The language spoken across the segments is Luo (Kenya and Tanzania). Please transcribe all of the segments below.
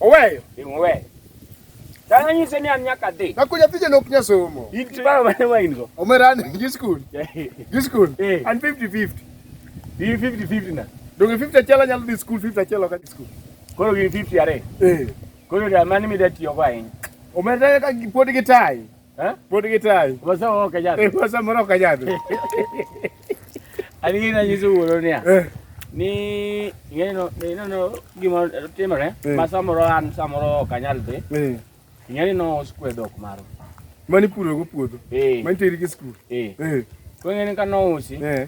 Oweyo. Oweyo. Dala nyise ni an nyaka dhi. Na kuja tije lok nya somo. Inti baba mane wa in go. Omera ni gi school. Gi school. Eh. An 50 50. Di 50 50 na. Donge 50 chela nyalo dhi school 50 chela ka school. Koro gi 50 are. Eh. Koro da mani mi da tiyo go ahinya. Omera ka pod gi tai. Eh? Pod gitayi. Wasa moro ka jadhi. Eh, wasa moro ka jadhi. An gina nyiso wuoro niya. Eh. Ni ing'eno ineno gima timore eh. ma samoro an samoro ok anyal dhi. Eh. Ing'eni no skwe dhok maro. Mani puro go puodho. Eh. Mani teri gi skul. Eh. Eh. Kwenye ni kanousi. Eh.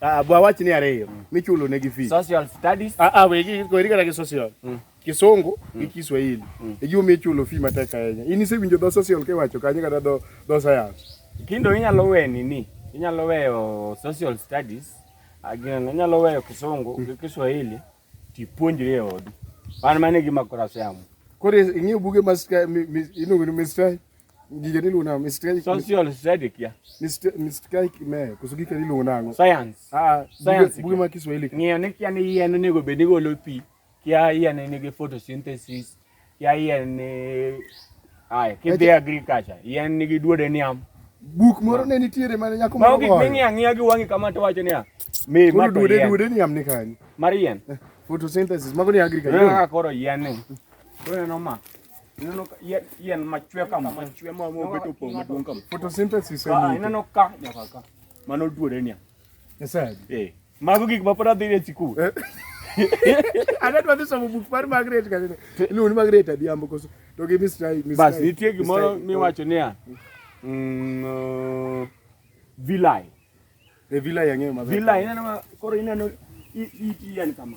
Ah, bwa wach ni ariyo mm. michulo ne gi fees. Social studies. Ah ah we gi ko irika gi social. Mm. Kisungu mm. gi Kiswahili. Mm. E giwo michulo fee matek ahinya. In isewinjo dho social ke wacho kanyo kata dho dho science. Kindo inyalo we nini? Inyalo weyo social studies. Agina ah, inyalo weyo Kisungu gi mm. Kiswahili. Tipuonjri e odi. An mane gima kora siamo. Kore ing'eyo buge ma iluongo ni Mr. Gige ni luna Mr. Social study kia. Mr. Mr. Kime koso gike ni luna ngo. Science. Ah, science. Buge ma Kiswahili. Ng'eyo ni kia ni yien onego bed ni golo pi. Kia yien ni gi photosynthesis. ya yien ni ai kidhi agriculture yien nigi duode niam buk moro ne nitiere mane nyako moro gik ming'i ang'iya gi wang'i kama to wacho niya mi ma to yien duode niam ni kanyo mar yien eh, photosynthesis mago ni agriculture kaka koro yien ni koro neno ma ineno yien machwe kama machwe ma mobet opong' maduong' kama photosynthesis ah, ineno ka nyaka ka mano duode niam Nyasaye. Eh. Mago gik ma pod adhi e sikul. Ana dwa dhi somo buk mar Margaret ka nene. Iluongo ni Margaret Adhiambo koso to gi Mr. Mr. Bas nitie gimoro miwacho niya. Mm, uh, vilai. E villa yang'eyo maber. Villa ineno ma- koro ineno i- iti yani kama.